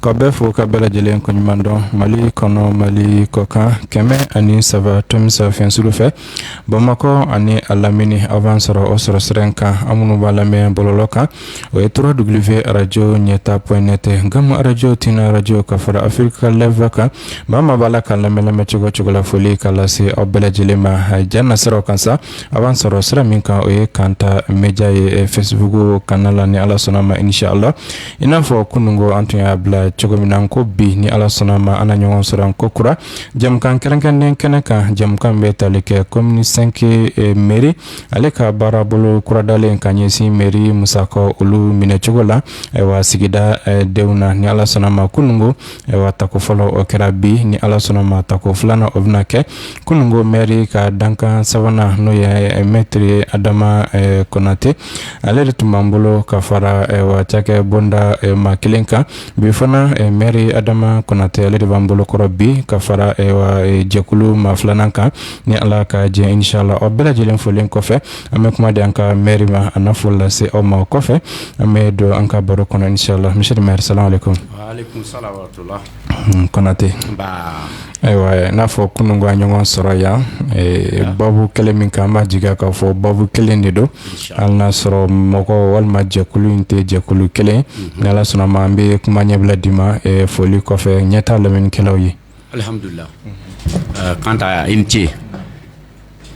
k'aw bɛɛ fo ka bɛɛ lajɛlen koɲumandɔn mali kɔnɔ mali kɔkan kɛmɛ ani saba tomi saba FM juru fɛ bamakɔ ani a lamini a b'an sɔrɔ o sɔrɔ sira in kan aw minnu b'an lamɛn bɔlɔlɔ kan o ye trois w arajo ɲɛta point net gam arajo tunein arajo ka fara afrika live kan maa o maa b'a la k'an lamɛn lamɛn cogo o cogo la foli ka lase aw bɛɛ lajɛlen ma jan na siraw kan sa a b'an sɔrɔ sira min kan o ye kanta media ye facebook kan la ni ala sɔnna ma inshallah i n'a fɔ kununko an tun y'a bila cogo min na ko bi ni ala sɔnna ma an na ɲɔgɔn sɔrɔ an kokura jɛmukan kɛrɛnkɛrɛnnen kɛnɛ kan jɛmukan bɛ tali kɛ komini sɛnki mɛri ale ka baarabolo kuradalen ka ɲɛsin mɛri musakaw olu minɛcogo la ayiwa sigida denw na ni ala sɔnna ma kununko Ayiwa tako fɔlɔ o kɛra bi ni ala sɔnna ma tako filanan o bɛna kɛ kununko mɛri ka dankan sabanan n'o ye mɛtiri adama kɔnatɛ ale de tun b'an bolo ka fara cakɛ bonda maa kelen kan bi fana mɛri adama kɔnatɛ ale de b'an bolokɔrɔ bi ka fara jɛkulu maa filanan kan ni ala ka jɛ inshallah aw bɛɛ lajɛlen folen kɔfɛ an bɛ kuma di an ka mɛri ma a na fo lase aw ma o kɔfɛ an bɛ don an ka baro kɔnɔ inshallah mɛtiri salamu alekum Kɔnatɛ ayiwa n'a fɔ kununko an ɲɔgɔn sɔrɔ yan baabu kelen min kan n b'a jigi k'a fɔ baabu kelen de don hali n'a sɔrɔ mɔgɔ walima jɛkulu in tɛ jɛkulu kelen ni ala sɔnna a ma an bɛ kuma ɲɛbila d'i ma foli kɔfɛ ɲɛta lamɛnnikɛlaw ye Alihamdulila kanta i ni ce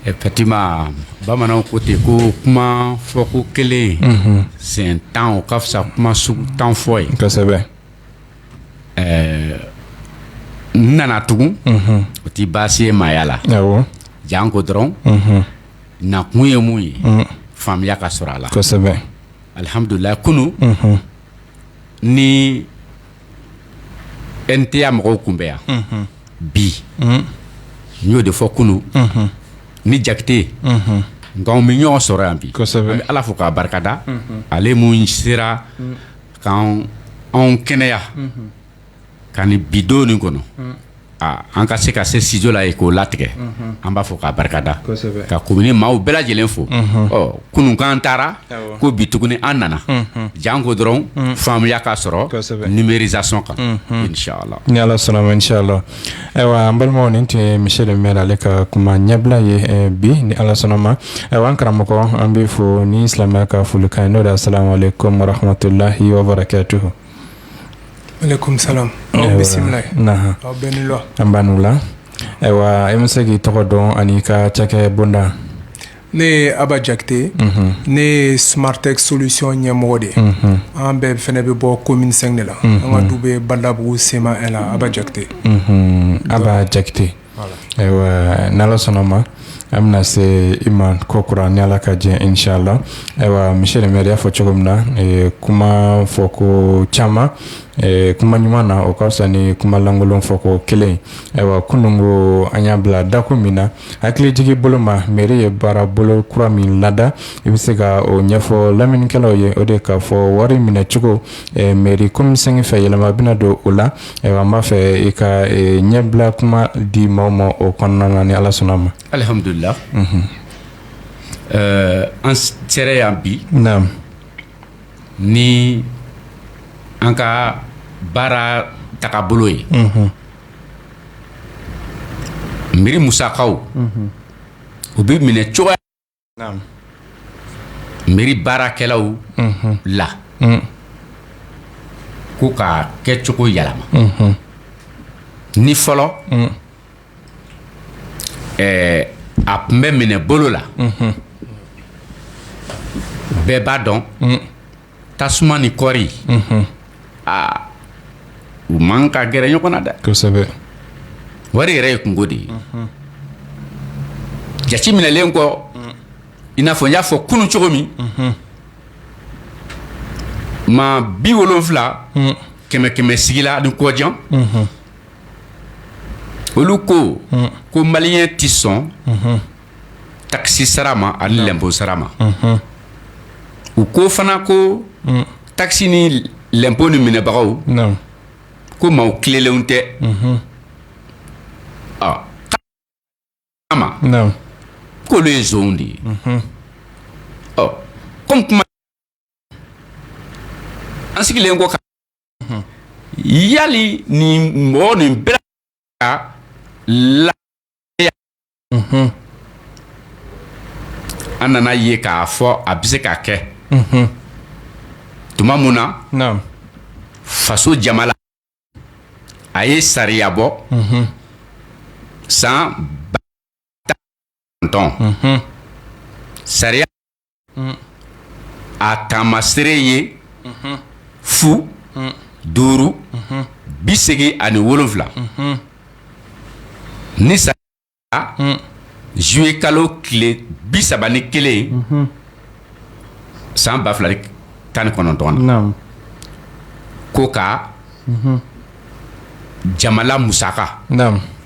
effectivement bamananw ko ten ko kuma fɔko kelen siɲɛ tan ka fisa kuma sugu tan fɔ ye kosɛbɛ n nana tugun o tɛ baasi ye maaya la janko dɔrɔn nakun ye mun ye faamuya ka sɔrɔ a la kosɛbɛ alihamdulila kunun ni n tun y'a mɔgɔw kunbɛn yan bi n y'o de fɔ kunun ni jakite nka an bɛ ɲɔgɔn sɔrɔ yan bi n bɛ ala fo k'a barikada ale min sera k' anw kɛnɛya ka na bi don nin kɔnɔ an ka se ka se studio la yen k'o latigɛ an b'a fo k'a barikada ka komini maaw bɛɛ lajɛlen fo kununko an taara ko bi tuguni an nana janko dɔrɔn faamuya ka sɔrɔ numérisation kan ni ala sɔnna ma inshallah ayiwa an balimaw nin tun ye monsieur le maire ale ka kuma ɲɛbila ye bi ni ala sɔnna ma ayiwa an karamɔgɔ an b'i fo ni silamɛya ka folikan ye n'o de asalamu alekum warahamatulahi wabarakatuhu Aleyikoum salam aw bisimila nahan aw bɛɛ ni wula nba aw ni wula ayiwa i bɛ se k'i tɔgɔ dɔn an'i ka cakɛ bonda ne ye Aba Jakite unhun ne ye Smartex solution ɲɛmɔgɔ de ye unhun an bɛɛ fana bɛ bɔ commune 5 de la unhun an ka du bɛ Badalabugu CMA 1 na Aba Jakite unhun Aba Jakite Ayiwa ni ala sɔnna ma an bɛna se i ma kokura ni ala ka jɛn in sha la ayiwa monsieur le maire y'a fɔ cogo min na kuma fɔ ko caman kuma ɲuman na o ka fisa ni kumalankolon fɔ ko kelen ayiwa kunun ko an y'a bila dakun min na hakilijigin bolo ma mairie ye baara bolo kura min lada i bɛ se ka o ɲɛfɔ laminikɛlaw ye o de k'a fɔ wari minɛcogo mairie commune 5 fɛ yɛlɛma bɛna don o la Ayiwa an b'a fɛ i ka ɲɛbila kuma di maaw ma o kɔnɔna na ni ala sɔnna ma alihamdulila ɛɛ an sera yan bi ni an ka baara tagabolo ye mairie musakaw u bɛ minɛ cogoya Mairie baarakɛlaw la ko k'a kɛcogo yɛlɛma ni fɔlɔ a tun bɛ minɛ bolo la bɛɛ b'a dɔn tasuma ni kɔɔri aa u man ka gɛrɛ ɲɔgɔn na dɛ kosɛbɛ wari yɛrɛ ye kunko de ye jate minɛlen kɔ i n'a fɔ n y'a fɔ kunun cogo min maa biwolonfila kɛmɛ kɛmɛ sigi la ani kɔjan olu ko ko maliyɛn tɛ sɔn takisi sara ma ani lɛnpo sara ma u ko fana ko takisi ni lɛnpo ni minɛbagaw ko maa tilennenw tɛ ma k'olu ye nson de ye kɔmi an sigilen ko yali nin mɔgɔ nin bɛ la an nan'a ye k'a fɔ a bɛ se ka kɛ tuma min na faso jamana a ye sariya bɔ san ba sariya a taamaseere ye fu duuru bi segin ani wolowula ni zuye kalo tile bi saba ni kelen san ba fila tan ni kɔnɔntɔn na ko ka jamana musaka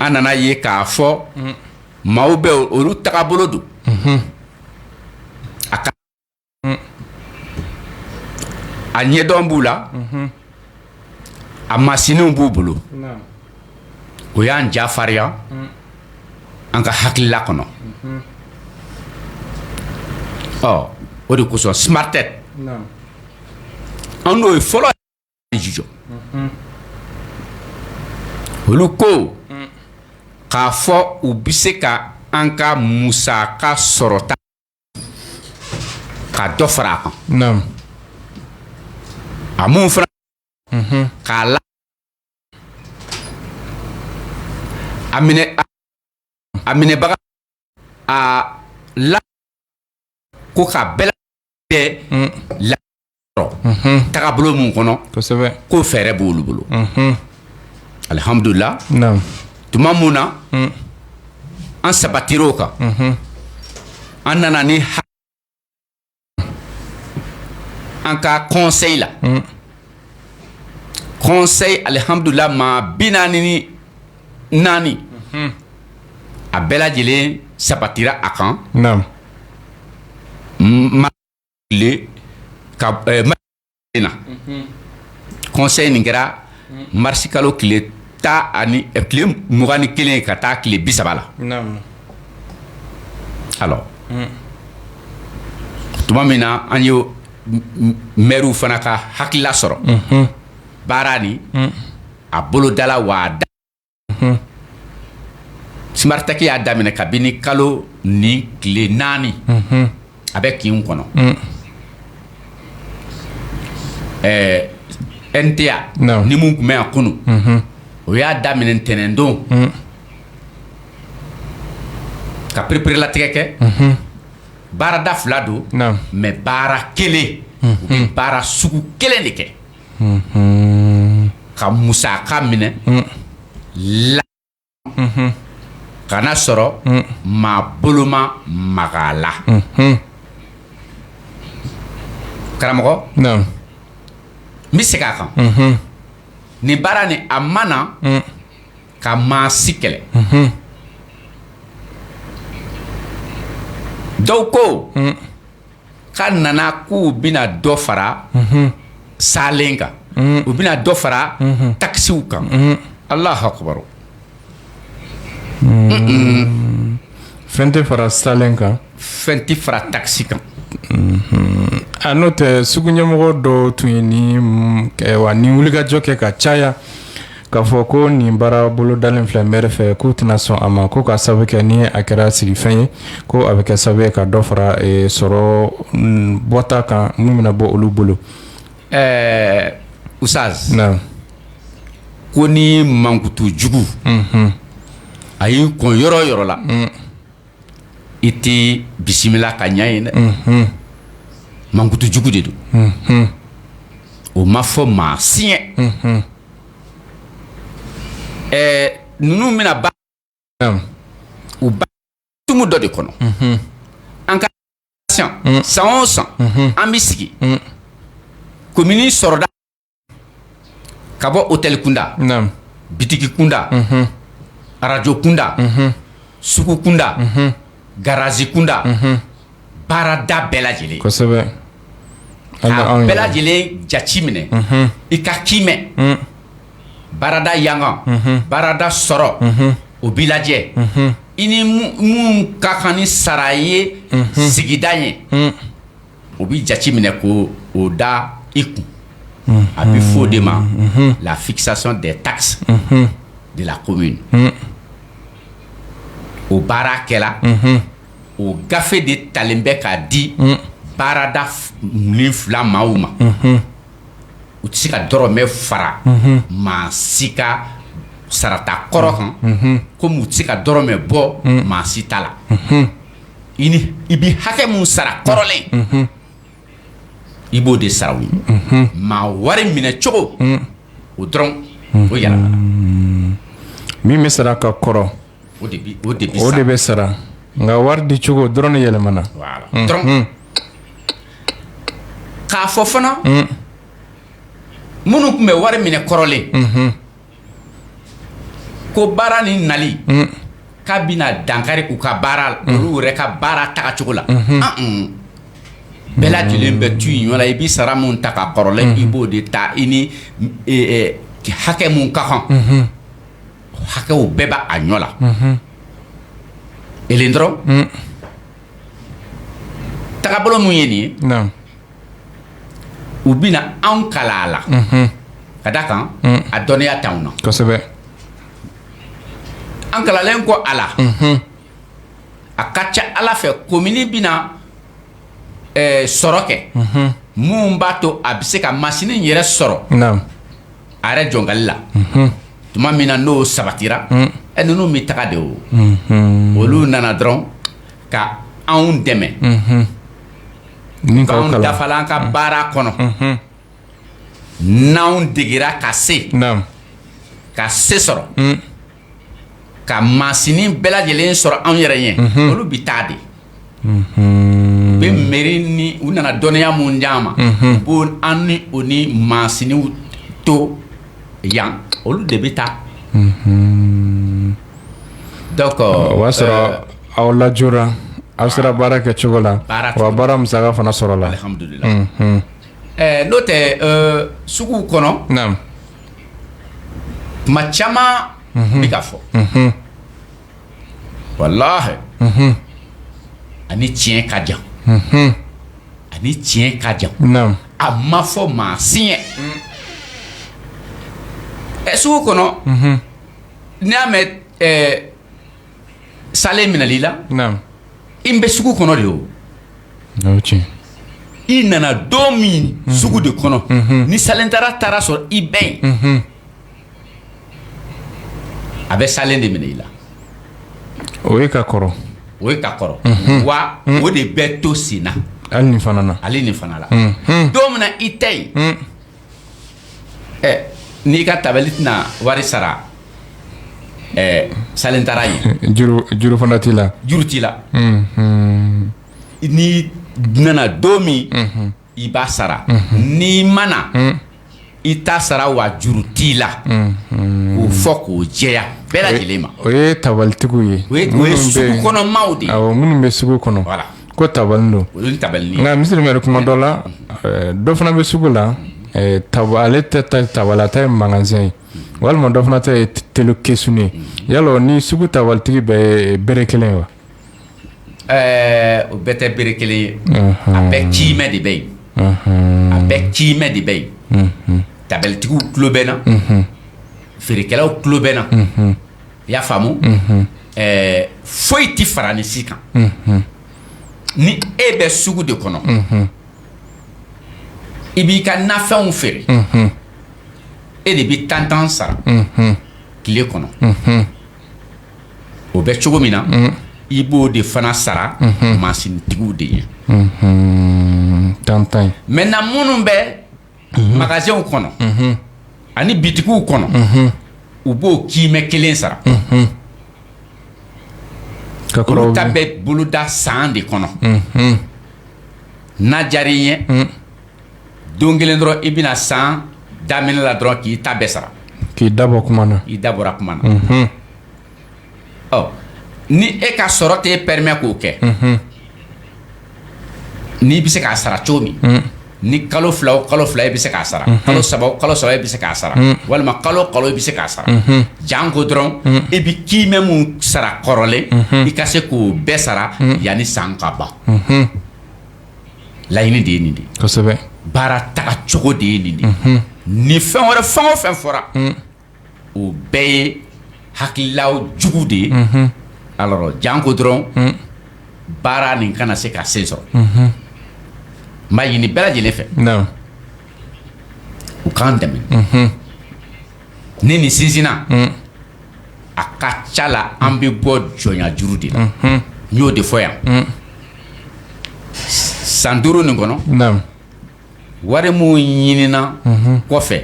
An nan'a ye k'a fɔ maaw bɛ olu tagabolo don a ka a ɲɛdɔn b'u la a masinw b'u bolo o y'an ja farinya an ka hakilila kɔnɔ ɔ o de kosɔn smartech an n'o ye fɔlɔ jɔ olu ko k'a fɔ u bɛ se ka an ka musaka sɔrɔta ka dɔ fara a kan a minnu fana k'a la a minɛ a minɛbaga a la ko ka bɛɛ tɛ la tagabolo min kɔnɔ ko fɛɛrɛ b' olu bolo alhamdulillah tuma min na an sabatira o kan an nana ni a an ka conseil la conseil alhamdulillah maa bi naani naani a bɛɛ lajɛlen sabatira a kan conseil nin kɛra marisi kalo tile tan ani tile mugan ni kelen ka taa tile bi saba la alors tuma min na an ye mɛriw fana ka hakilila sɔrɔ baara nin a bolodala wa da smartech y'a daminɛ kabini kalo ni tile naani a bɛ kin kɔnɔ ɛɛ NTA ni minnu tun bɛ yan kunun o y'a daminɛ ntɛnɛndon ka pereperelatigɛ kɛ baarada fila don mɛ baara kelen bɛ baara sugu kelen de kɛ ka musaka minɛ la kana sɔrɔ maa bolo ma maga a la karamɔgɔ n bɛ segin a kan nin baara nin a ma na ka maa si kɛlɛ dɔw ko Ka nana k' u bɛna dɔ fara salen kan u bɛna dɔ fara takisiw kan alahu akibaru fɛn tɛ fara salen kan fɛn tɛ fara takisi kan a n'o tɛ sugu ɲɛmɔgɔ dɔ tun ye ni wa ni wulikajɔ kɛ ka caya K'a fɔ ko nin baara bolodalen filɛ mɛri fɛ k'u tɛna sɔn a ma ko ka sababu kɛ ni a kɛra sigifɛn ye ko a bɛ kɛ sababu ye ka dɔ fara sɔrɔ bɔta kan min bɛna bɔ olu bolo ɛɛ usitazi ko ni mankutu jugu a y'i kɔn yɔrɔ o yɔrɔ la i tɛ bisimila ka ɲɛ yen dɛ mankutu jugu de don o ma fɔ maa si ɲɛ ɛɛ ninnu bɛna ba u ba tumu dɔ de kɔnɔ an ka san o san an bɛ sigi komini sɔrɔda ka bɔ otɛli kunda bitigi kunda arajo kunda sugu kunda garazi kunda baarada bɛɛ lajɛlen bɛɛ lajɛlen jate minɛ i k'a kiimɛ baarada yangan baarada sɔrɔ o bɛ lajɛ i ni min ka kan ni sara ye sigida ye o bɛ jate minɛ k'o da i kun a bɛ fɔ o de ma la fixation des taxes de la commune o baara kɛra o gafe de talen bɛ k'a di baarada ni fila maaw ma u tɛ se ka dɔrɔmɛ fara maa si ka sarata kɔrɔ kan komi u tɛ se ka dɔrɔmɛ bɔ maa si ta la i ni i bɛ hakɛ min sara kɔrɔlen i b'o de sara u ye maa wari minɛ cogo o dɔrɔn voilà min bɛ sara ka kɔrɔ o de o de o de bɛ sara nka wari di cogo dɔrɔn de yɛlɛmana dɔrɔn k'a fɔ fana minnu tun bɛ wari minɛ kɔrɔlen Ko baara ni nali k'a bɛna dankari u ka baara olu yɛrɛ ka baara tagacogo la bɛɛ lajɛlen bɛ to i ɲɔ la i bɛ sara min ta ka kɔrɔlen i b'o de ta i ni hakɛ min ka kan hakɛw bɛɛ bɛ a ɲɔ la e dɔrɔn tagabolo min ye nin ye u bɛna anw kalan a la ka da a kan a dɔnniya t'an na kosɛbɛ an kalannen kɔ a la a ka ca ala fɛ komini bɛna sɔrɔ kɛ min b'a to a bɛ se ka masini yɛrɛ sɔrɔ a yɛrɛ jɔnkali la tuma min na n'o sabatira e ninnu bɛ taga de o olu nana dɔrɔn ka anw dɛmɛ Min ka kalan. K'anw dafala an ka baara kɔnɔ n'anw degera ka se Naam. ka se sɔrɔ ka masini bɛɛ lajɛlen sɔrɔ anw yɛrɛ ye olu bi taa de u bɛ meri ni u nana dɔnniya min d'an ma u b'o an ni o ni masiniw to yan olu de bɛ taa O y'a sɔrɔ aw laj aw sera baara kɛ cogo la baara musaka fana sɔrɔla n'o tɛ sugu kɔnɔ maa caman bɛ k'a fɔ walayi a ni tiɲɛ ka jan a ni tiɲɛ ka jan a ma fɔ maa si ye ɛ sugu kɔnɔ N'i y'a mɛn salen minɛli la i bɛ sugu kɔnɔ de o i nana don min sugu de kɔnɔ ni salentala taara sɔrɔ i bɛ yen a bɛ salen de minɛ i la o ye ka kɔrɔ o ye ka kɔrɔ wa o de bɛ to senna hali nin fana la don min i tɛ yen ɛ n'i ka tabali tɛna wari sara ɛ salentala ye juru juru fana t'i la juru t'i la n'i nana don min i b'a sara n'i ma na i t'a sara wa juru t'i la k'o fɔ k'o jɛya bɛɛ lajɛlen ma o ye tabalitigiw ye o ye sugu kɔnɔmaaw de ye minnu bɛ sugu kɔnɔ voilà Ko tabali don o ye tabali ye nka misiye mɛri kuma dɔ la ɛɛ dɔ fana bɛ sugu la ɛɛ tab ale tɛ ta tabali a ta ye magasan ye walima dɔ fana ta ye t- telu kesun ye yala o ni sugu tabalitigi bɛɛ ye bere kelen ye wa ɛɛ o bɛɛ tɛ bere kelen ye a bɛɛ ciimɛ de bɛ yen Unhun, a bɛɛ ciimɛ de bɛ yen unhun, tabalitigiw tulo b'an na feerekɛlaw tulo b'an na i y'a faamu foyi tɛ fara ni si kan ni e bɛ sugu de kɔnɔ i b'i ka nafɛnw feere e de bɛ tan tan sara tile kɔnɔ o bɛ cogo min na i b'o de fana sara mansintigiw de ye tan tan mɛntɛnan minnu bɛ magasanw kɔnɔ ani bitigiw kɔnɔ u b'o kimɛ kelen sara olu ta bɛ boloda san de kɔnɔ n'a diyara i ye don kelen dɔrɔn i bɛna san daminɛ la dɔrɔn k'i ta bɛɛ sara k'i dabɔ i dabɔ kuma na ni e ka sɔrɔ tɛ e pɛrɛmɛ k'o kɛ n'i bɛ se k'a sara cogo min ni kalo fila kalo fila e bɛ se k'a sara kalo saba kalo saba e bɛ se k'a sara walima kalo kalo e bɛ se k'a sara janko dɔrɔn e bɛ kimɛ min sara kɔrɔlen i ka se k'o bɛɛ sara yanni san ka ban laɲini de ye nin de baara taga cogo de ye nin de ni fɛn wɛrɛ fɛn o fɛn fɔra o bɛɛ ye hakililaw jugu de ye alɔri janko dɔrɔn baara nin kana se ka sen sɔrɔ n b'a ɲini bɛɛ lajɛlen fɛ u k'an dɛmɛ ni nin sinsinna a ka ca la an bɛ bɔ jɔnya juru de la n y'o de fɔ yan san duuru nin kɔnɔ wari minnu ɲinina kɔfɛ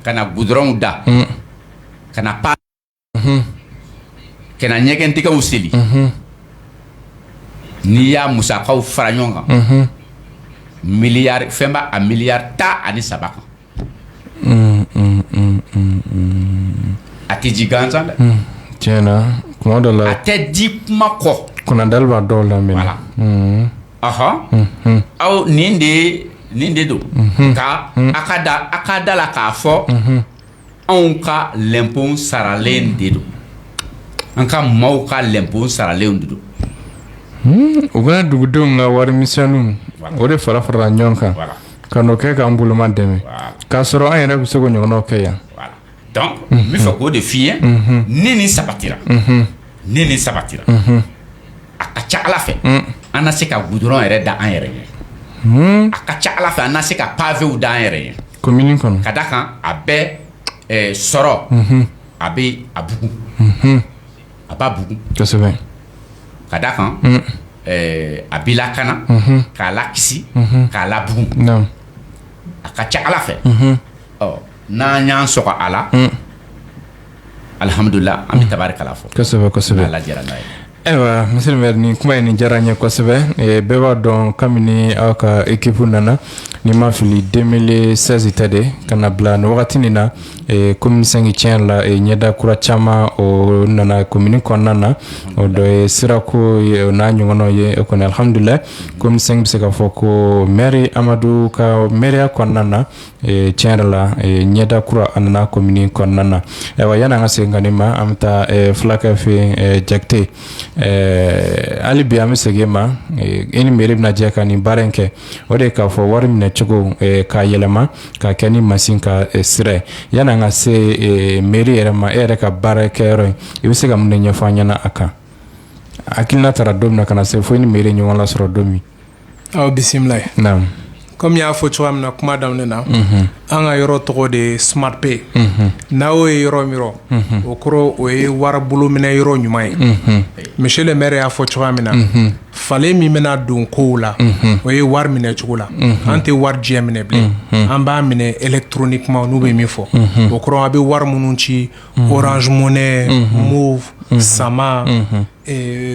ka na gudɔrɔnw da ka na pan ka ɲɛgɛndingɛw seli n'i y'a musakaw fara ɲɔgɔn kan miliyari fɛn b'a a miliyari tan ani saba kan a tɛ di gansan dɛ dɔ la a tɛ di kuma kɔ kunda dɔw la Ahɔn aw nin de nin de don ka a ka da a ka da a la k'a fɔ anw ka lɛnpo saralen de don an ka maaw ka lɛnpo saralen de don u ka dugudenw ka wari misɛnninw o de fara farala ɲɔgɔn kan ka n'o kɛ k'an bolomadɛmɛ k'a sɔrɔ an yɛrɛ bɛ se k'o ɲɔgɔn kɛ yan dɔnku n b'a fɛ k'o de f'i ye ni nin sabatira ni nin sabatira a ka ca ala fɛ an na se ka gudɔrɔn yɛrɛ da an yɛrɛ ye a ka ca ala fɛ an na se ka pavew da an yɛrɛ ye komini kɔnɔ ka d'a kan a bɛ sɔrɔ a bɛ a bugu a b'a bugu kosɛbɛ ka d'a kan a b'a lakana k'a lakisi k'a labugu a ka ca ala fɛ ɔ n'an y'an sɔgɔ a la alihamudulila an bɛ tabarikala fɔ kosɛbɛ kosɛbɛ ala diyara n'a ye ayiwa monsieur le maire nin kuma ye nin diyara n ye kosɛbɛ eh, bɛɛ b'a dɔn kabini aw ka ekipu nana ni n ma fili 2016 tɛ de ka n'a bila nin wagati nin na eh, komini sɛnki tiɲɛ la eh, ɲɛda kura caman o nana komini kɔnɔna na o dɔ ye sirako ye o n'a ɲɔgɔnnaw ye o kɔni alihamudulila komini sɛnki bɛ se k'a fɔ ko mɛri amadu ka mɛriya kɔnɔna na tiɲɛ yɛrɛ la ɲɛda kura a nana komini kɔnɔna na ayiwa yanni an ka segin nkaani ma an bɛ taa fulakɛ fɛ jate hali bi an bɛ segin i ma e ni mɛri bɛna jɛ ka nin baara in kɛ o de k'a fɔ wari minɛ cogo k'a yɛlɛma ka kɛ ni masin ka sira yanni an ka se mɛri yɛrɛ ma e yɛrɛ ka baara kɛ yɔrɔ in i bɛ se ka mun ɲɛfɔ an ɲɛna a kan akiina taara don min na ka na se fo i ni mɛri ɲɔgɔn lasɔrɔ don min aw bisimila ye naamu kɔmi i y'a fɔ cogoya min na kuma daminɛ na mhm. an ka yɔrɔ tɔgɔ de ye smart pay mhm. n'a y'o ye yɔrɔ min yɔrɔ mhm. o kɔrɔ o ye wari bolominɛ yɔrɔ ɲuman ye monsieur le maire y'a fɔ cogoya min na falen min bɛna don kow la o ye wari minɛ cogo la an tɛ wari jɛ minɛ bilen an b'a minɛ électroniquement n'u bɛ min fɔ o kɔrɔ a bɛ wari minnu ci orange money moov sama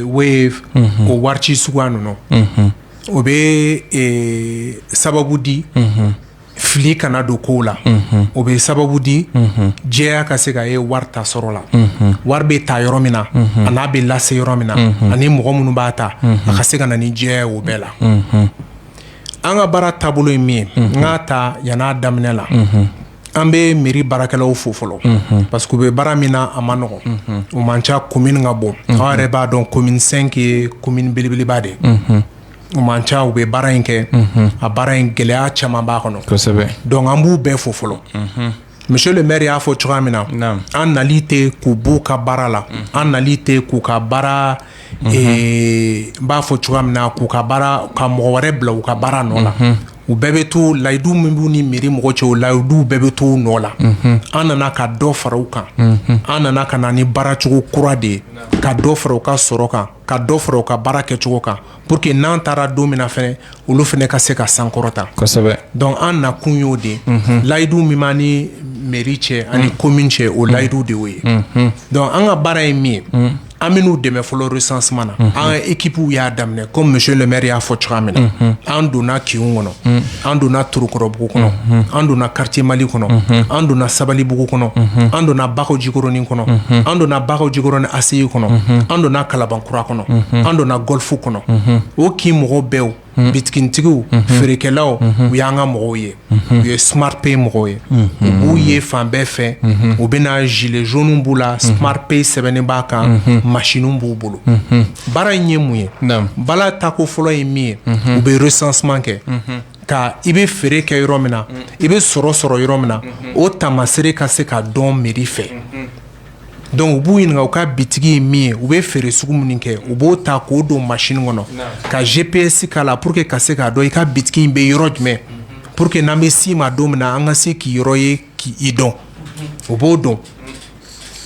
wave o wari ci sugu ninnu o bɛ sababu di fili kana don kow la o bɛ sababu di jɛya ka se ka ye wari ta sɔrɔ la wari bɛ ta yɔrɔ min na an'a bɛ lase yɔrɔ min na ani mɔgɔ minnu b'a ta a ka se ka na ni jɛya o bɛɛ la an ka baara taabolo ye min ye n k'a ta yan a daminɛ la an bɛ mɛri baarakɛlaw fo fɔlɔ parce que u bɛ baara min na a man nɔgɔ u man ca komini ka bon aw yɛrɛ b'a dɔn komini sɛnki ye komini belebeleba de u man ca u bɛ baara in kɛ a baara in gɛlɛya caman b'a kɔnɔ kosɛbɛ dɔnku an b'u bɛɛ fo fɔlɔ monsieur le maire y'a fɔ cogoya min na an nali tɛ k'u b'u ka baara la an nali tɛ k'u ka baara n b'a fɔ cogoya min na k'u ka baara ka mɔgɔ wɛrɛ bila u ka baara nɔ na u bɛɛ bɛ to layidu min b'u ni mɛri mɔgɔ cɛ o layiduw bɛɛ bɛ to u nɔ la an nana ka dɔ fara u kan an nana ka na ni baaracogo kura de ye ka dɔ fara u ka sɔrɔ kan ka dɔ fara u ka baara kɛcogo kan pour que n'an taara don min na fana olu fana ka se ka sankɔrɔta donc an nakun y'o de layidu min b'an ni mɛri cɛ ani commune cɛ o layidu de ye donc an ka baara ye min ye an bɛn'u dɛmɛ fɔlɔ recensement na an ka équipew y'a daminɛ comme monsieur le maire y'a fɔ cogoya min na an donna kinw kɔnɔ an donna torokɔrɔbugu kɔnɔ an donna quartier mali kɔnɔ an donna sabalibugu kɔnɔ an donna bakɔjikɔrɔnin kɔnɔ an donna bakɔjikɔrɔnin ACI kɔnɔ an donna kalabankura kɔnɔ an donna golf kɔnɔ o kin mɔgɔw bɛɛ bitigitigiw feerekɛlaw u y'an ka mɔgɔw ye u ye smart pay mɔgɔw ye u b'u ye fan bɛɛ fɛ u bɛ na gilet jaune b'u la smart pay sɛbɛnnen b'a kan machine b'u bolo baara in ye mun ye baara tako fɔlɔ ye min ye u bɛ recensement kɛ ka i bɛ feere kɛ yɔrɔ min na i bɛ sɔrɔ sɔrɔ yɔrɔ min na o taamaseere ka se ka dɔn mɛri fɛ Donc u b'u ɲininka u ka bitigi ye min ye u bɛ feere sugu minnu kɛ u b'o ta k'o don machine kɔnɔ ka GPS k'a la pour que ka se k'a dɔn i ka bitigi in bɛ yɔrɔ jumɛn pour que n'an bɛ sin i ma don min na an ka se k'i yɔrɔ ye k'i dɔn o b'o don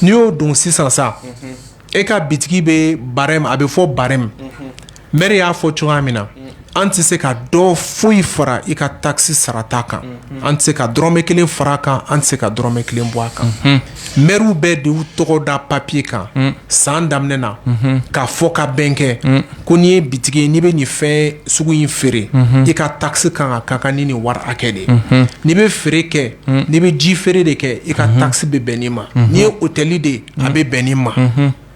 n'i y'o don sisan sa e ka bitigi bɛ barème a bɛ fɔ barème Mɛri y'a fɔ cogoya min na an tɛ se ka dɔ foyi fara i ka taxe sarata kan an tɛ se ka dɔrɔmɛ kelen fara kan an tɛ se ka dɔrɔmɛ kelen bɔ a kan mɛriw bɛɛ de b'u tɔgɔ da papiye kan san daminɛ na ka fɔ ka bɛn kɛ ko n'i ye bitigi n'i bɛ nin fɛn sugu in feere i ka taxe kan ka ka kan ni nin wari hakɛ de n'i bɛ feere kɛ n'i bɛ ji feere de kɛ i ka taxe bɛ bɛn nin ma n'i ye otɛli de a bɛ bɛn nin ma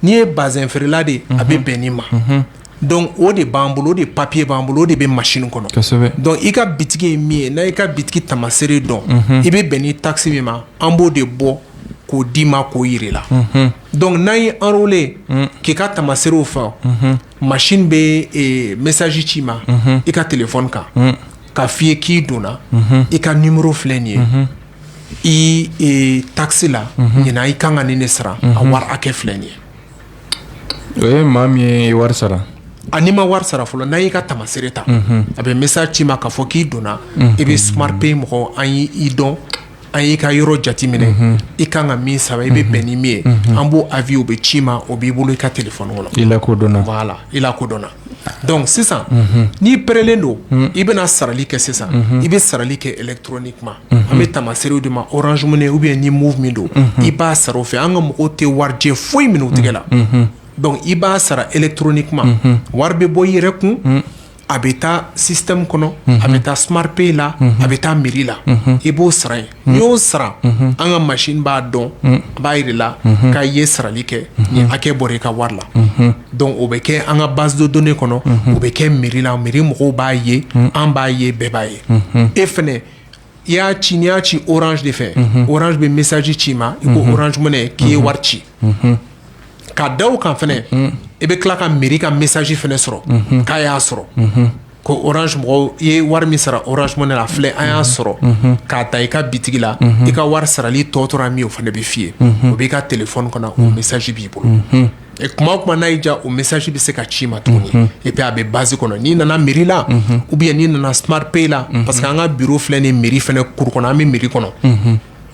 N'i ye bazɛn feerela de ye a bɛ bɛn nin ma donc o de b'an bolo o de papier b'an bolo o de bɛ machine kɔnɔ donc i ka bitiki ye min ye n'a y'i ka bitiki tamaseere dɔn i bɛ bɛn ni taxe min ma an b'o de bɔ k'o d'i ma k'o jira i la donc n'an y'i enrôler k'i ka tamaseerew fa. machine bɛ message ci i ma i ka téléphone kan k'a fɔ i ye k'i donna i ka numéro filɛ nin ye i taxe la ɲinan i kan ka nin de sara a wari hakɛ filɛ nin ye o ye maa min ye wari sara ani ma wari sara fɔlɔ n'an y'i ka tamaseere ta a bɛ message ci i ma ka fɔ k'i donna i bɛ smart pay mɔgɔ an y'i dɔn an y'i ka yɔrɔ jateminɛ i ka kan ka min sara i bɛ bɛn ni min ye an b'o envoyer o bɛ ci i ma o b'i bolo i ka téléphone kɔnɔ i lakodɔnna donc sisan n'i parɛlen don i bɛna sarali kɛ sisan i bɛ sarali kɛ électroniquement an bɛ tamaseerew d'i ma orange money o bɛ ni moov min don i b'a sara o fɛ an ka mɔgɔw tɛ warijɛ foyi minɛ i tɛgɛ la donc i b'a sara électroniquement wari bɛ bɔ i yɛrɛ kun a bɛ taa système kɔnɔ a bɛ taa smart pay la a bɛ taa mairie la i b'o sara ye n'i y'o sara an ka machine b'a dɔn a b'a jira i la k'i ye sarali kɛ nin hakɛ bɔra i ka wari la donc o bɛ kɛ an ka base de données kɔnɔ o bɛ kɛ mairie la mairie mɔgɔw b'a ye an b'a ye bɛɛ b'a ye e fana i y'a ci n'i y'a ci orange de fɛ orange bɛ message c'i ma i ko orange money k'i ye wari ci ka da o kan fɛnɛ i bɛ tila ka mairie ka message fɛnɛ sɔrɔ k'an y'a sɔrɔ ko orange mɔgɔw i ye wari min sara orange money la a filɛ an y'a sɔrɔ k'a ta i ka bitigi la i ka wari sarali tɔ tora min ye o fɛnɛ bɛ f'i ye o b'i ka téléphone kɔnɔ o message b'i bolo. kuma o kuma n'a y'i diya o message bɛ se ka c'i ma tuguni et puis a bɛ base kɔnɔ n'i nana mairie la ou bien n'i nana smart pay la parce que an ka bureau filɛ nin mairie fana cour kɔnɔ an bɛ mairie kɔnɔ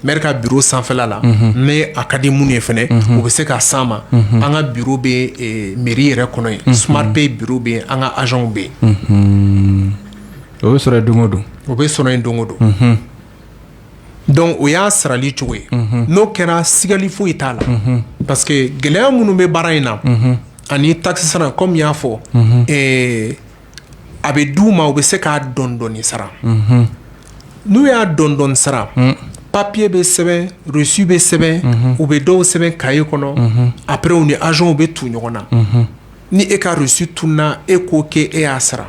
maire ka bureau sanfɛla la n'a ka di minnu ye fana u bɛ se ka s'an ma an ka bureau bɛ mairie yɛrɛ kɔnɔ yen smart pay bureau bɛ an ka agentw bɛ yen o bɛ sɔrɔ yen don o don o bɛ sɔrɔ yen don o don donc o y'a sarali cogo ye n'o kɛra sigali foyi t'a la parce que gɛlɛya minnu bɛ baara in na ani taxe sara comme i y'a fɔ a bɛ duguma u bɛ se k'a dɔndɔɔni sara n'u y'a dɔndɔɔni sara papiye bɛ sɛbɛn reçu bɛ sɛbɛn u bɛ dɔw sɛbɛn cahier kɔnɔ après u ni agentw bɛ tu ɲɔgɔn na ni e ka reçu tununna e ko k'e y'a sara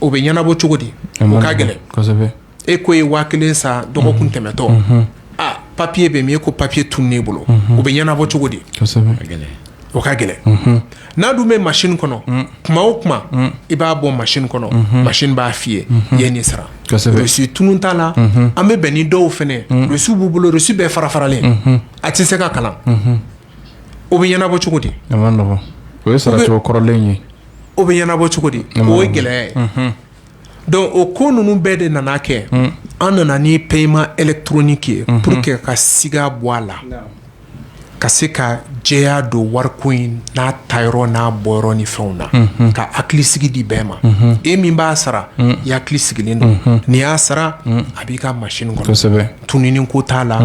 o bɛ ɲɛnabɔ cogo di o ka gɛlɛn e ko i ye waa kelen sara dɔgɔkun tɛmɛtɔ aa papiye bɛ min e ko papiye tununna ne bolo o bɛ ɲɛnabɔ cogo di o ka gɛlɛn n'a dun bɛ machine kɔnɔ kuma o kuma i b'a bɔ machine kɔnɔ machine b'a f'i ye i ye nin sara reçu tunun t'a la an bɛ bɛn ni dɔw fɛnɛ reçu b'u bolo reçu bɛɛ farafaralen a tɛ se ka kalan o bɛ ɲɛnabɔ cogo di o ye sara kɔrɔlen ye o bɛ ɲɛnabɔ cogo di o ye gɛlɛya ye donc o ko ninnu bɛɛ de nana kɛ an nana ni paiement électronique ye pour que ka siga bɔ a la ka se ka jɛya don wariko in n'a ta yɔrɔ n'a bɔ yɔrɔ ni fɛnw na ka hakili sigi di bɛɛ ma e min b'a sara i hakili sigilen don n'i y'a sara a b'i ka machine kɔnɔ tunun ko t'a la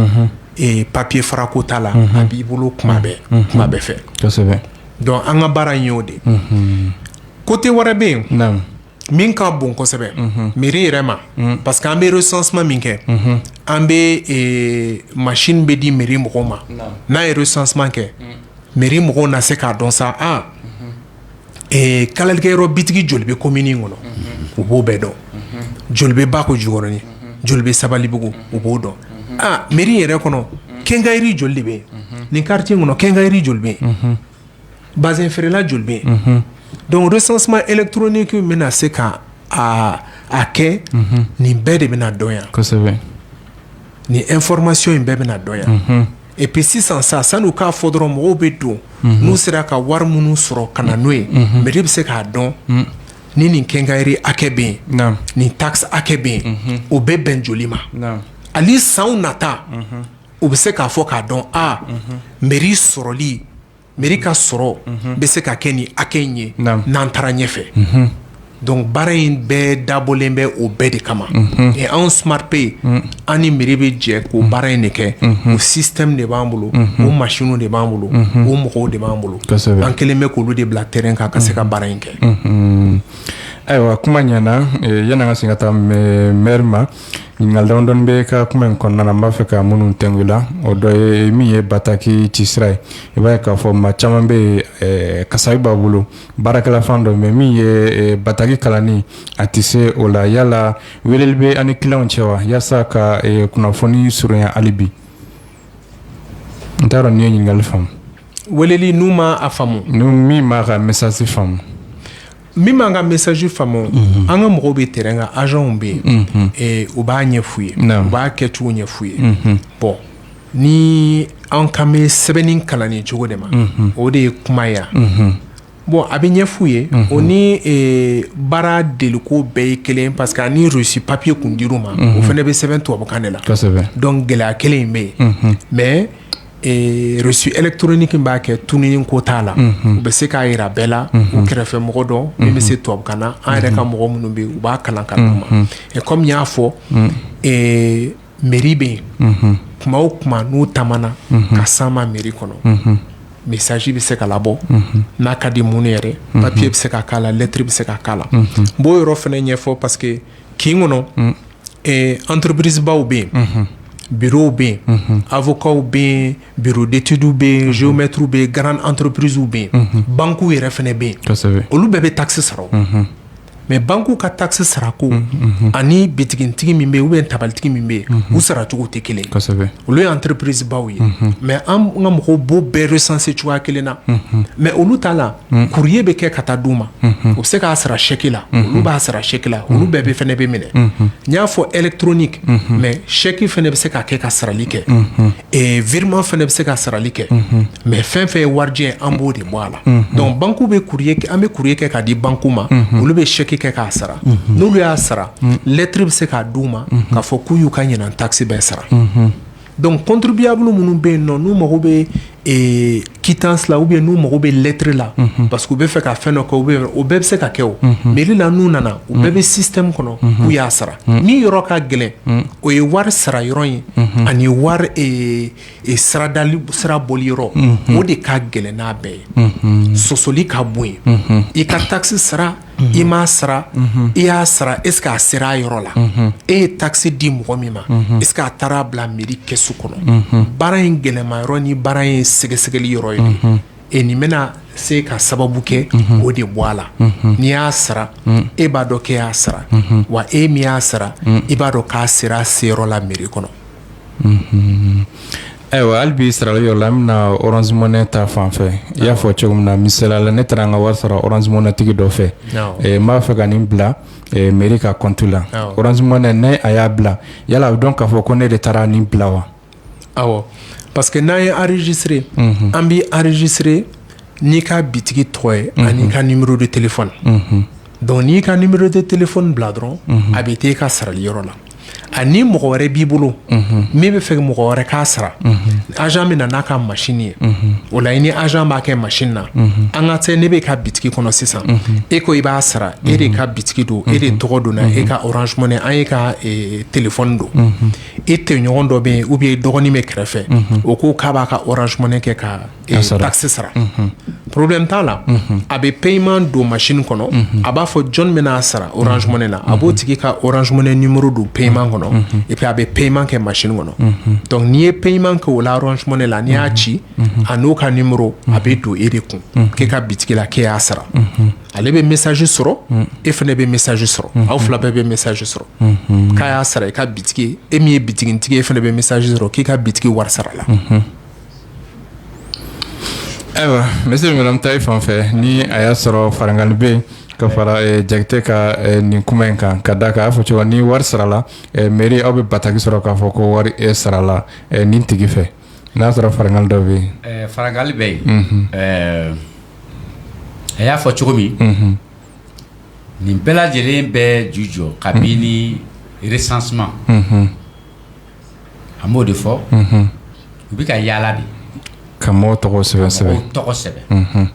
papiye fara ko t'a la a b'i bolo kuma bɛɛ kuma bɛɛ fɛ donc an ka baara in y'o de côté wɛrɛ bɛ yen min ka bon kosɛbɛ mairie yɛrɛ ma parce que an bɛ recensement min kɛ an bɛ machine bɛ di mairie mɔgɔw ma n'an ye recensement kɛ mairie mɔgɔw na se k'a dɔn sa aa kalalikɛ yɔrɔ bitigi joli bɛ commune kɔnɔ u b'o bɛɛ dɔn joli bɛ bakɔ jikɔrɔni joli bɛ sabalibugu u b'o dɔn aa mairie yɛrɛ kɔnɔ quincaillerie joli bɛ yen nin quartier kɔnɔ quincaillerie joli bɛ yen bazin feerela joli bɛ yen donc recensement électronique bɛna se ka a kɛ nin bɛɛ de bɛna dɔn yan kosɛbɛ ni information in bɛɛ bɛna dɔn yan et puis sisan sa sanni k'a fɔ dɔrɔn mɔgɔw bɛ don n'u sera ka wari minnu sɔrɔ ka na n'o ye mairie bɛ se k'a dɔn ni nin quincaillerie hakɛ bɛ yen nin takisi hakɛ bɛ yen o bɛ bɛn joli ma hali san nata u bɛ se k'a fɔ k'a dɔn a mairie sɔrɔli mairie ka sɔrɔ bɛ se ka kɛ nin hakɛ in ye n'an taara ɲɛfɛ dɔnku baara in bɛɛ dabɔlen bɛ o bɛɛ de kama ɛ anw SmartPay an ni mairie bɛ jɛ k'o baara in de kɛ o système de b'an bolo o masinw de b'an bolo o mɔgɔw de b'an bolo an kɛlen bɛ k'olu de bila terrain kan ka se ka baara in kɛ ayiwa kuma ɲɛna yann'an ka sin ka taa maire ma ɲininkali damadɔw b'i ka kuma in kɔnɔna n b'a fɛ ka minnu tigɛ i la o dɔ ye min ye bataki ci sira ye i b'a ye k'a fɔ maa caman bɛ kasabi b'a bolo baarakɛla fan dɔ mɛ min ye bataki kalanni a tɛ se o la yala weleli bɛ a' ni kiliyanw cɛ wa walasa ka kunnafoni surunya hali bi n t'a dɔn n'i ye ɲininkali faamu wele n'u ma a faamu n min m'an ka message faamu min m'an ka message faamu an ka mɔgɔw bɛ terrain kan agents bɛ yen eh, u b'a ɲɛf'u ye Naamu. u b'a kɛcogo ɲɛf'u ye bon ni an kan bɛ sɛbɛnni kalanni cogo de ma o de ye kuma ye yan bon a bɛ ɲɛf'u ye o ni eh, baara deliko bɛɛ ye kelen ye parce que hali ni reçu papier kun dir'u ma o fana bɛ sɛbɛn tubabukan de la kosɛbɛ donc gɛlɛya kelen in bɛ yen mais reçu électronique b'a kɛ tununni ko t'a la u bɛ se k'a jira bɛɛ la u kɛrɛfɛ mɔgɔ dɔ min bɛ se tubabukan na an yɛrɛ ka mɔgɔ minnu bɛ u b'a kalan ka d'u ma ɛ kɔmi y'a fɔ mairie bɛ yen kuma o kuma n'u taamana ka s'an ma mairie kɔnɔ message bɛ se ka labɔ n'a ka di minnu yɛrɛ papiye bɛ se ka k'a la lɛtiri bɛ se ka k'a la n b'o yɔrɔ fana ɲɛfɔ parce que kin kɔnɔ entreprisebaw bɛ yen bureauw bɛ yen avocatw bɛ yen bureau d'étudew bɛ yen géomètrew bɛ yen grand entreprisew bɛ yen banki yɛrɛ fana bɛ yen olu bɛɛ bɛ takisi sara mɛ bankiw ka takisi sarako ani bitigitigi min bɛ yen ou bien tabalitigi min bɛ yen u saracogo tɛ kelen olu ye entreprisebaw ye mɛ an ka mɔgɔw b'u bɛɛ recensé cogoya kelen na mɛ olu t'a la courrier bɛ kɛ ka taa d'u ma u bɛ se k'a sara sɛki la olu b'a sara sɛki la olu bɛɛ bɛ fana bɛ minɛ n y'a fɔ électronique mɛ sɛki fana bɛ se ka kɛ ka sarali kɛ virement fana bɛ se ka sarali kɛ mɛ fɛn fɛn ye warijɛ an b'o de bɔ a la dɔnku bankiw bɛ an bɛ courrier kɛ k'a di bankiw ma olu bɛ sɛki kɛ k'a sara n'olu y'a sara lɛtiri bɛ se k'a di u ma k'a fɔ k'u y'u ka ɲinan takisi bɛɛ sara Donc contribuable minnu bɛ yen nɔn n'u mago bɛ quittance la o bɛ yen n'u mago bɛ lettre la parce que u bɛ fɛ ka fɛn dɔ kɛ u bɛɛ bɛ se ka kɛ o mɛri la n'u nana u bɛɛ bɛ système kɔnɔ k'u y'a sara min yɔrɔ ka gɛlɛn o ye wari sara yɔrɔ ye ani wari sara bɔli yɔrɔ o de ka gɛlɛn n'a bɛɛ ye sɔsɔli ka bon yen i ka taxe sara i m'a sara i y'a sara est-ce qu'a sera a yɔrɔ la e ye taxe di mɔgɔ min ma est-ce qu'a taar'a bila mɛri kɛsu kɔnɔ baara in gɛlɛnma yɔrɔ ni baara in sɛgɛsɛgɛli yɔrɔ ye nin ye nin bɛna se ka sababu kɛ o de bɔ a la n'i y'a sara e b'a dɔn k'e y'a sara wa e min y'a sara i b'a dɔn k'a sera a seyɔrɔ la mɛri kɔnɔ Ayiwa hali bi sarali yɔrɔ la n bɛna na Orange Money ta fan fɛ i y'a fɔ cogo min na misala la ne taara n ka wari sara Orange Money tigi dɔ fɛ n b'a fɛ ka nin bila mɛri ka kɔntu la Orange Money a y'a bila yala a bɛ dɔn k'a fɔ ko ne de taara nin bila wa aw parce que n'an y'i enregistrer an b'i enregistrer n'i ka bitigi tɔgɔ ye an'i ka numéro de téléphone donc n'i ka numéro de téléphone bila dɔrɔn a bɛ taa e ka sarali yɔrɔ la ani mɔgɔ wɛrɛ b'i bolo min bɛ fɛ mɔgɔ wɛrɛ k'a sara agent bɛ na n'a ka machine ye o la i ni agent b'a kɛ machine na an k'a kɛ ne b'e ka bitigi kɔnɔ sisan e ko i b'a sara e de ka bitigi don e de tɔgɔ don e ka Orange Money an'e ka téléphone don e tɔɲɔgɔn dɔ bɛ yen ou bien i dɔgɔnin b'i kɛrɛfɛ o ko k'a b'a ka Orange Money kɛ ka tasi sara porobi t'a la a bɛ peman don mas kɔnɔ a b'a fɔ jɔn min n'a sara o s na a b'o tigi ka s ni muru don peman kɔnɔ e a bɛ peman kɛ mas kɔnɔ dɔnkuc n'i ye peman kɛ o la s la n'i y'a ci a n'o ka ni muru a bɛ don e de kun k'i ka bitigila ke' sara ale bɛ misasi sɔrɔ e fana bɛ misasi sɔrɔ aw fila bɛɛ bɛ misasi sɔrɔ k'a y'a sara i ka bi e min ye bitigitigi e fana bɛ misasi sɔrɔ k'i ka bi wari sara la Ayiwa n bɛ se madame ta fan fɛ ni a y'a sɔrɔ farankali bɛ yen ka fara Jakite ka nin kuma in kan ka d'a kan a y'a fɔ cogo ni wari sarala mɛri aw bɛ bataki sɔrɔ k'a fɔ ko wari sarala nin tigi fɛ n y'a sɔrɔ farankali dɔ bɛ yen farankali bɛ yen a y'a fɔ cogo min nin bɛɛ lajɛlen bɛ ju jɔ kabini recensement an b'o de fɔ u bɛ ka yaala de ka mɔgɔw tɔgɔ sɛbɛn sɛbɛn tɔgɔ sɛbɛn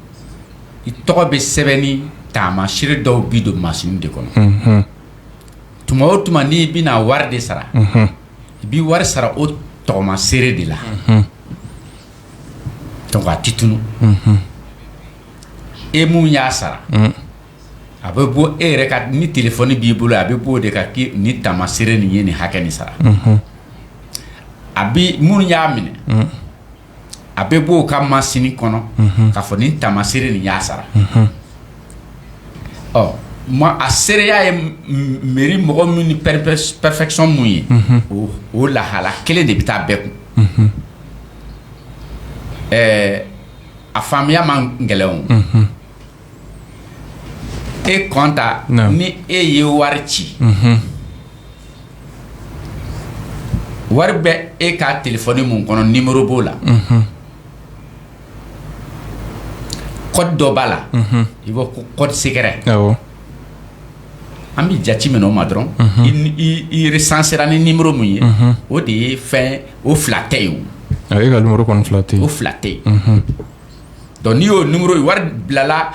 i tɔgɔ bɛ sɛbɛn ni taamaseere dɔw bi don machine de kɔnɔ tuma o tuma n'i bɛna wari de sara i bɛ wari sara o tagamaseere de la donc a tɛ tunun e min y'a sara a bɛ bɔ e yɛrɛ ka ni telefɔni b'i bolo a bɛ bɔ o de ka ni taamaseere nin ye nin hakɛ ni sara a bɛ minnu y'a minɛ a bɛ bɔ ka masini kɔnɔ ka fɔ ni taamaseere nin y'a sara ɔ ma a seereya ye mɛri mɔgɔ minnu ni pɛrsɛpsɔn minnu ye o lahala kelen de bɛ taa bɛɛ kun ɛɛ a faamuya ma gɛlɛya e kɔntan ni e ye wari ci wari bɛ e ka telefɔni min kɔnɔ nimɔrɔ b'o la kɔdi dɔ b'a la i bɔ ko kɔdi sekerɛ an bɛ jate minɛ o ma dɔrɔn i resansera ni nimɔrɔ min ye o de ye fɛn o fila tɛ yen o ka kɔni fila tɛ o fila tɛ yen dɔnku n'i y'o nimɔrɔ ye wari bilala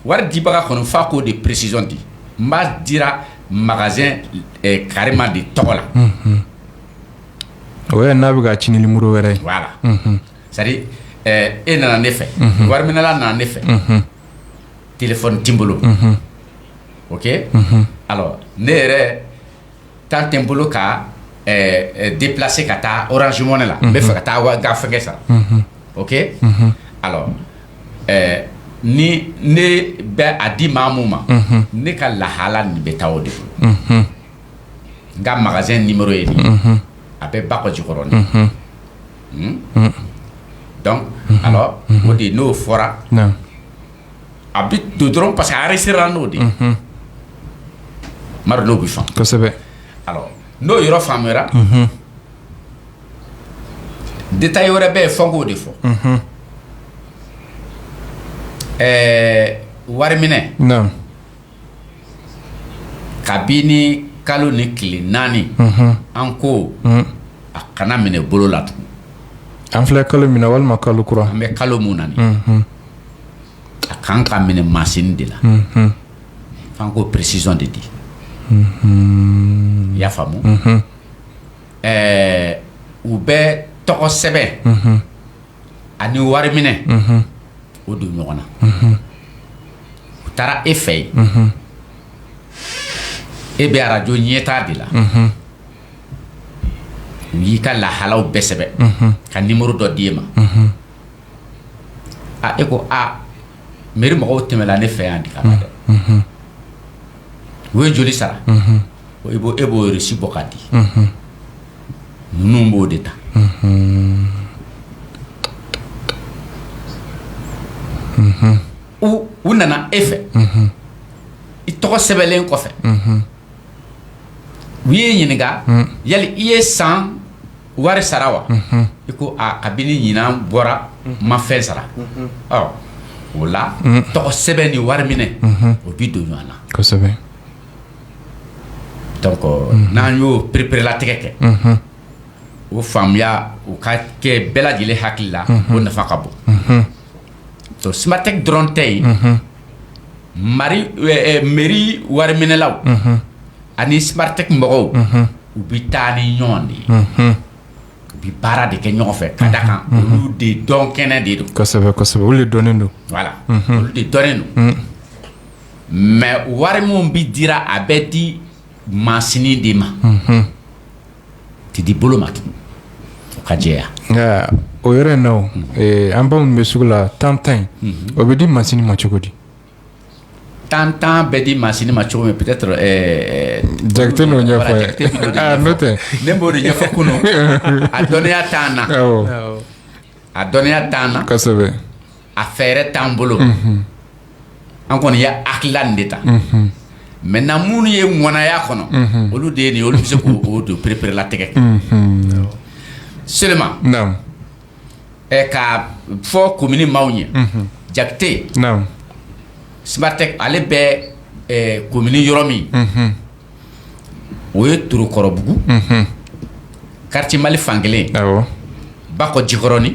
wari dibaga kɔnɔ f'an k'o de presizɔn di n b'a dira magazɛn kareman de tɔgɔ la o n'a bɛ ka ti nimɔrɔ wɛrɛ c'est-à-dire e nana ne fɛ wariminɛla nana ne fɛ telefɔni tɛ n bolo oke ne yɛrɛ tan tɛ n bolo ka deplase ka taa Orange Money la n b'a fɛ ka taa n ka fɛnkɛ sara oke ni ne bɛ a di maa min ma ne ka lahala nin bɛ taa o de bolo n ka magazɛn nimɔrɔ ye nin a bɛ Bakojikɔrɔni dɔnku o de n'o fɔra a bɛ dɔn dɔrɔn parce que a yɛrɛ sera n'o de mari bɛ faamu kosɛbɛ n'o yɔrɔ faamuyara detayi wɛrɛ bɛ yen f'an k'o de fɔ ɛɛ wari minɛ Kabini kalo nin tile naani an ko a kana minɛ bolo la tugun an filɛ kalo min na walima kalo kura an bɛ kalo min na a kan ka minɛ masini de la f'an k'o presizɔn de di i y'a faamu ɛɛ u bɛ tɔgɔ sɛbɛn ani wari minɛ o don ɲɔgɔn na u taara e fɛ yen e bɛ arajo ɲɛta de la u y'i ka lahalaw bɛɛ sɛbɛn ka nimɔrɔ dɔ di e ma a e ko a mɛri mɔgɔw tɛmɛla ne fɛ yan di ka dɛ u ye joli sara i bɔ e b'o resi bɔ ka di ninnu b'o de ta u nana e fɛ i tɔgɔ sɛbɛnnen kɔfɛ u y'i ɲininka yala i ye san wari sara wa i ko a kabini ɲinan bɔra n ma fɛn sara o la tɔgɔ sɛbɛn ni wari minɛ o bɛ don ɲɔgɔn na n'an y'o pereperelatigɛ kɛ o faamuya o ka kɛ bɛɛ lajɛlen hakili la o nafa ka bon smartek dɔrɔn tɛ yen mɛri wariminɛlaw ani smartek mɔgɔw u bɛ taa ni ɲɔgɔn de ye u bɛ baara de kɛ ɲɔgɔn fɛ ka da kan olu de dɔnkɛnɛ de don olu de dɔn don mɛ wari minnu bɛ dira a bɛ di masini de ma tɛ di bolo ma tugun ka jɛ nka o yɛrɛ la an baw bɛ sugu la tan tan in o bɛ di masini ma cogo di tan tan bɛɛ di masini ma cogo min peut-être ja n'o tɛ ne b'o de ɲɛfɔ kun a dɔnniya t'an na a dɔnniya t'an na a fɛɛrɛ t'an bolo an kɔni y'an hakilina de ta maintenant minnu ye mya kɔnɔ olu de ye olu bɛ se k'o dɔn pereperelatigɛ kɛ seulement ka fɔ komini maaw ye jate smartek ale bɛ komini yɔrɔ min o ye torokɔrɔbugu kartiye mali fan kelen bakɔ jikɔrɔnin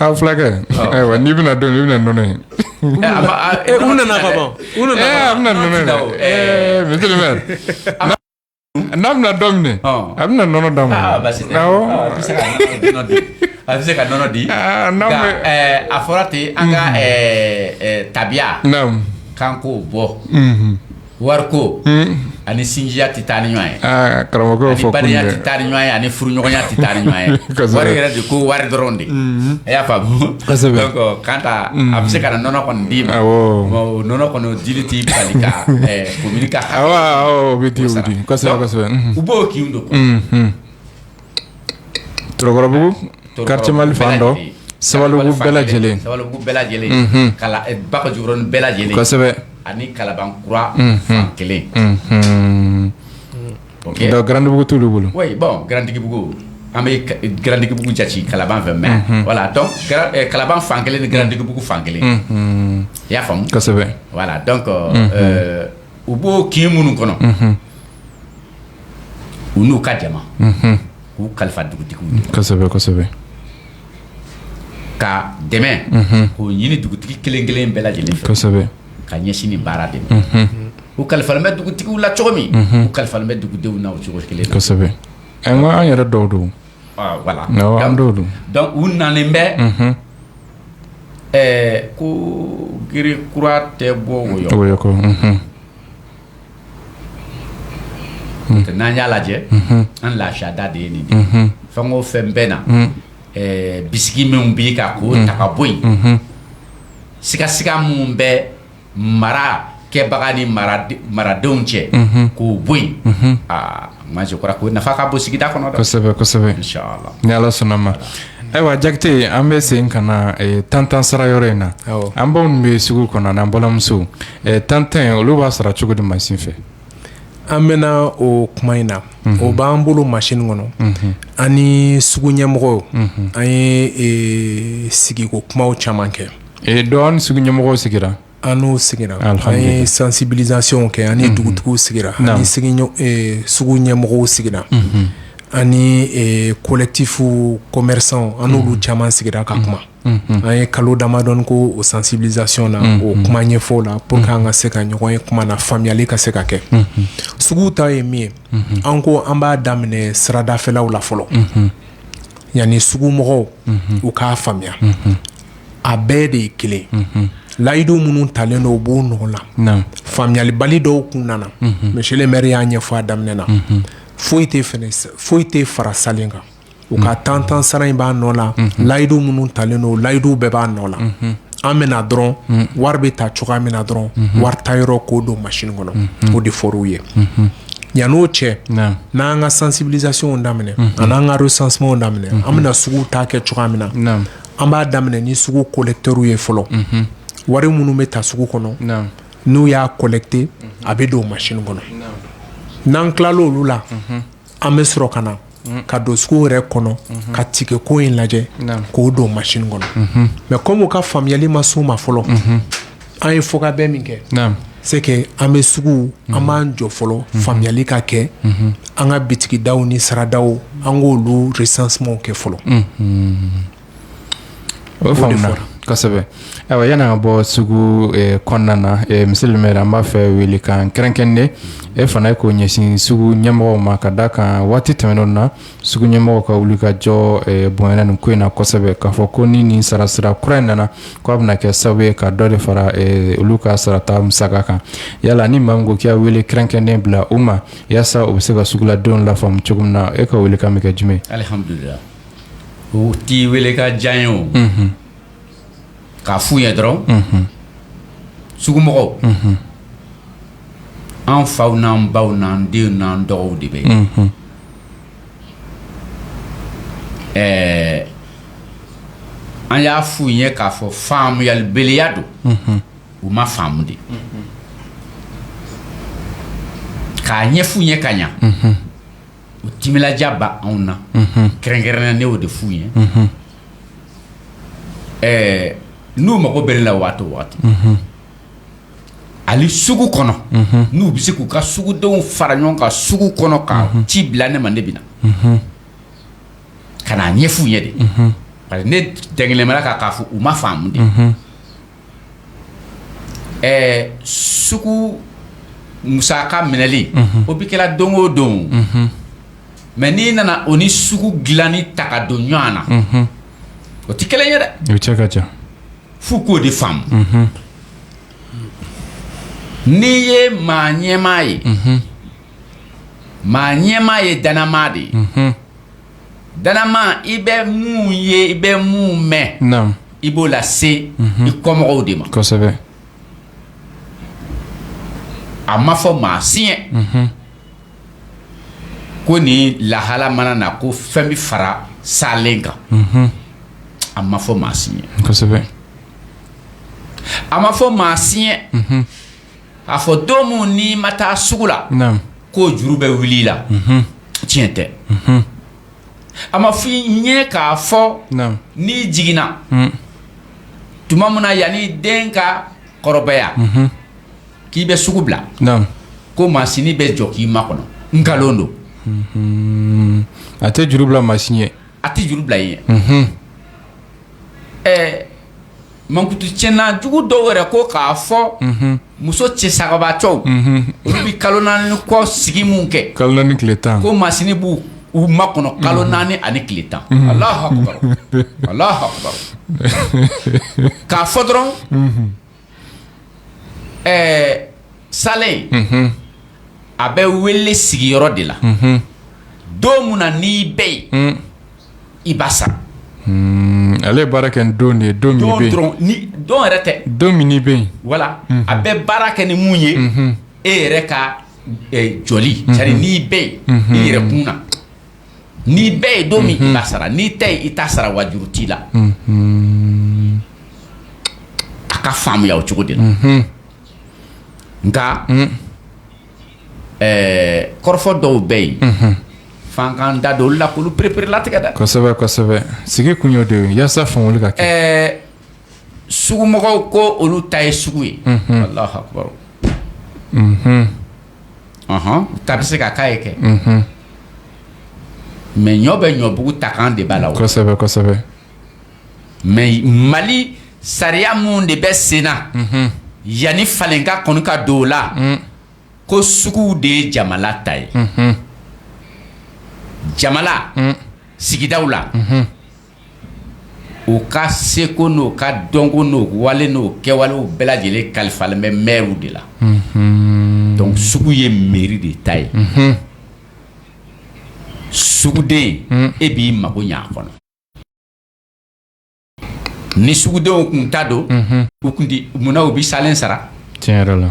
Aa fulakɛ ayiwa n'i bɛna don bɛna nɔnɔ ye nana ka ban n'a bɛna dɔ minɛ a bɛna nɔnɔ d'a ma a bɛ se ka nɔnɔ di a fɔra ten an ka tabiya k'an k'o bɔ wari ko ani sinjiya tɛ taa ni ɲɔgɔn ye karamɔgɔ fɔ badenya tɛ taa ni ɲɔgɔn ye ani furuɲɔgɔnya tɛ taa ni ɲɔgɔn ye wari yɛrɛ de ko wari dɔrɔn de a y'a faamu kan a bɛ se ka nɔnɔ kɔni d'i ma nɔnɔ kɔni dili t'i bali ka komini bɛ u b'o kin don Tɔrɔkɔrɔbugu karitiye mali fan dɔ sabalibugu bɛɛ lajɛlen bɛɛ lajɛlen bakɔjikɔrɔnin bɛɛ lajɛlen kosɛbɛ ani kalabankura fan kelen garantigibugu tu bolo garantigibugu an bɛ garantigibugu jate kalaban fɛ mɛ wala dɔn kalaban fan kelen ni garantigibugu fan kelen i y'a faamu wala dɔn u b'o kin minnu kɔnɔ u n'u ka jama k'u kalifa dugutigi ka dɛmɛ k'o ɲini dugutigi kelen kelen bɛɛ lajɛlen ka ɲɛsin ni baara de u kalifa bɛ dugutigi la cogo min u kalifa bɛ dugudenw na o cogo kelen an yɛrɛ dɔw don wala dɔnku u nalen bɛ ɛɛ ko g kura tɛ bɔ N'an y'a lajɛ an lada de ye nin fɛn o fɛn bɛ na bisigi minnu bɛ ka k'o ta ka bɔ yen sigasiga minnu bɛ marakɛbaga ni maradenw cɛ k'o bɔ yen aa Mansin kɔrɔ ko nafa ka bon sigida kɔnɔ kosɛbɛ kosɛbɛ ni ala sɔnna ma ayiwa jakite an bɛ segin ka na tantan sara yɔrɔ in na an baw bɛ sugu kɔnɔ ni an balimamuso tantan olu b'a sara cogo di mansin fɛ an bɛna o kuma in na o b'an bolo mansin kɔnɔ an ni sugu ɲɛmɔgɔw an ye sigiko kuma caman kɛ dɔn an ni sugu ɲɛmɔgɔw sigira an n'o sigira an ye sansibilizasiyɔnw kɛ an ni dugutigiw sigira an ni sugu ɲɛmɔgɔw sigira an ni kolɛkitifu kɔmɛrisanw an n'olu caman sigira ka kuma an ye kalo damadɔ kɛ o sansibilizasiyɔn na o kuma ɲɛfɔ la puru an ka se ka ɲɔgɔn ye kuma na faamuyali ka se ka kɛ sugu ta ye min ye an ko an b'a daminɛ siradafɛlaw la fɔlɔ yanni sugu mɔgɔw u k'a faamuya a bɛɛ de ye kelen layidu minnu talen don u b'u nɔ la faamuyalibali dɔw tun nana mɛsiye le mɛri y'a ɲɛfɔ daminɛ na foyi tɛ foyi tɛ fara sa kan u ka tan tan sara in b'a nɔ la layidu minnu talen don layiduw bɛɛ b'a nɔ la an bɛna dɔrɔn wari bɛ ta cogoya min na dɔrɔn wari ta yɔrɔ k'o don mansin kɔnɔ o de fɔw ye yann'o cɛ n'an ka sansibilizasiyɔnw daminɛ ani n'an ka resansiman daminɛ an bɛna sugu ta kɛ cogoya min na an b'a daminɛ ni sugu kolɛkitɛriw ye fɔlɔ wari minnu bɛ ta sugu kɔnɔ n'u y'a kolɛkite a bɛ don o mansin kɔnɔ n'an tila olu la an bɛ sɔrɔ ka na ka don sugu yɛrɛ kɔnɔ ka tikɛ ko in lajɛ k'o don o mansin kɔnɔ mɛ kɔmi u ka faamuyali ma se o ma fɔlɔ An y'a fɔ k'an bɛ min kɛ c'est que an bɛ sugu an b'an jɔ fɔlɔ faamuyali ka kɛ an ka bitigidaw ni saradaw an k'olu recensement kɛ fɔlɔ o faamuna kosɛbɛ ayiwa yann'an ka bɔ sugu kɔnɔna na monsieur le maire an b'a fɛ welekan kɛrɛnkɛrɛnnen e fana ye k'o ɲɛsin sugu ɲɛmɔgɔw ma ka da kan waati tɛmɛnenw na sugu ɲɛmɔgɔw ka wulikajɔ eh, bonyana nin ko in na kosɛbɛ k'a fɔ ko ni nin sarasira kura in nana ko a bɛna kɛ sababu ye ka dɔ de fara eh, olu ka sarata musaka kan yala ni maa min ko k'i y'a wele kɛrɛnkɛrɛnnen bila u ma yaasa u bɛ se ka suguladenw lafaamu cogo min na e ka welekan bɛ kɛ jumɛn alihamudulila o t'i wele ka diya ye o mhm. k'a f'u ye dɔrɔn mhm. sugumɔgɔw mhm. an faw n'an baw n'an denw n'an dɔgɔw de bɛ yen ɛɛ an y'a f'u ye k'a fɔ faamuyalibaliya don u ma faamu de k'a ɲɛf'u ye ka ɲɛ u tija b ba anw na kɛrɛnkɛrɛnnen ne b'o de f'u ye ɛɛ n'u mago bɛ n la waati o waati hali sugu kɔnɔ n'u bɛ se k'u ka sugudenw fara ɲɔgɔn kan sugu kɔnɔ ka ci bila ne ma ne de bɛ na ka na ɲɛf'u ye de ne dalen b'a kan k'a fɔ u ma faamu de ɛɛ sugu musaka minɛli o bɛ kɛla don o don mɛ n'i nana o ni sugu dilanni ta ka don ɲɔgɔn na o tɛ kelen ye dɛ o cɛ ka jan f'u k'o de faamu n'i ye maa ɲɛmaa ye maa ɲɛmaa ye dannamaa de ye dannamaa i bɛ mun ye i bɛ mun mɛn naamu i b'o lase i kɔmɔgɔw de ma kosɛbɛ a ma fɔ maa si ɲɛ ko ni lahala mana na ko fɛn bɛ fara saalen kan a ma fɔ maa si ɲɛ a ma fɔ maa si ɲɛ k'a fɔ don min n'i ma taa sugu la k'o juru bɛ wuli i la tiɲɛ tɛ a ma fɔ i ɲɛ k'a fɔ n'i jiginna tuma min na yanni den ka kɔrɔbaya k'i bɛ sugu bila ko masini bɛ jɔ k'i makɔnɔ nkalon don a tɛ juru bila maa si ye a tɛ juru bila i ye ɛɛ mankutu tiɲɛna jugu dɔw yɛrɛ ko k'a fɔ muso cɛ sabagatɔw olu bɛ kalo naani ko sigi min kɛ kalo naani tile tan ko masini b'u makɔnɔ kalo naani ani tile tan k'a fɔ dɔrɔn Ɛɛ salen a bɛ wele sigiyɔrɔ de la don min na n'i bɛ yen i b'a sara ale baara kɛ n don ye don yɛrɛ tɛ don min bɛ yen wala a bɛ baara kɛ ni mun ye e yɛrɛ ka jɔli cari n'i bɛ yen i yɛrɛ kun na N'i bɛ yen don min i b'a sara n'i tɛ yen i t'a sara wa juru t'i la a ka faamuya o cogo de la nka ɛɛ kɔrɔfɔ dɔw bɛ yen fankan da dɔw la ko olu p-erelatigɛ da sigi tun y'o de ye walasa faamuya ka kɛ sugumɔgɔw ko olu ta ye sugu ye, unhun, Alahu akibaru, unhun, ɔnhɔn, ta bɛ se ka k'a ye kɛ, unhun, mais ɲɔ bɛ ɲɔbugu ta kan de b'a la, kosɛbɛ, kosɛbɛ, mais Mali sariya minnu de bɛ sen na, unhun, yanni falen ka kɔni ka don o la, un, ko suguw de ye jamana ta ye, unhun, jamana, un, sigidaw la, unhun. u ka seko n'o ka dɔnko n'o wale n'o kɛwale bɛɛ lajɛlen kalifalen bɛ mɛriw de la donc sugu ye mɛri de ta ye suguden e b'i mago ɲɛ a kɔnɔ ni sugudenw tun ta don u tun munna u bɛ salen sara tiɲɛ yɛrɛ la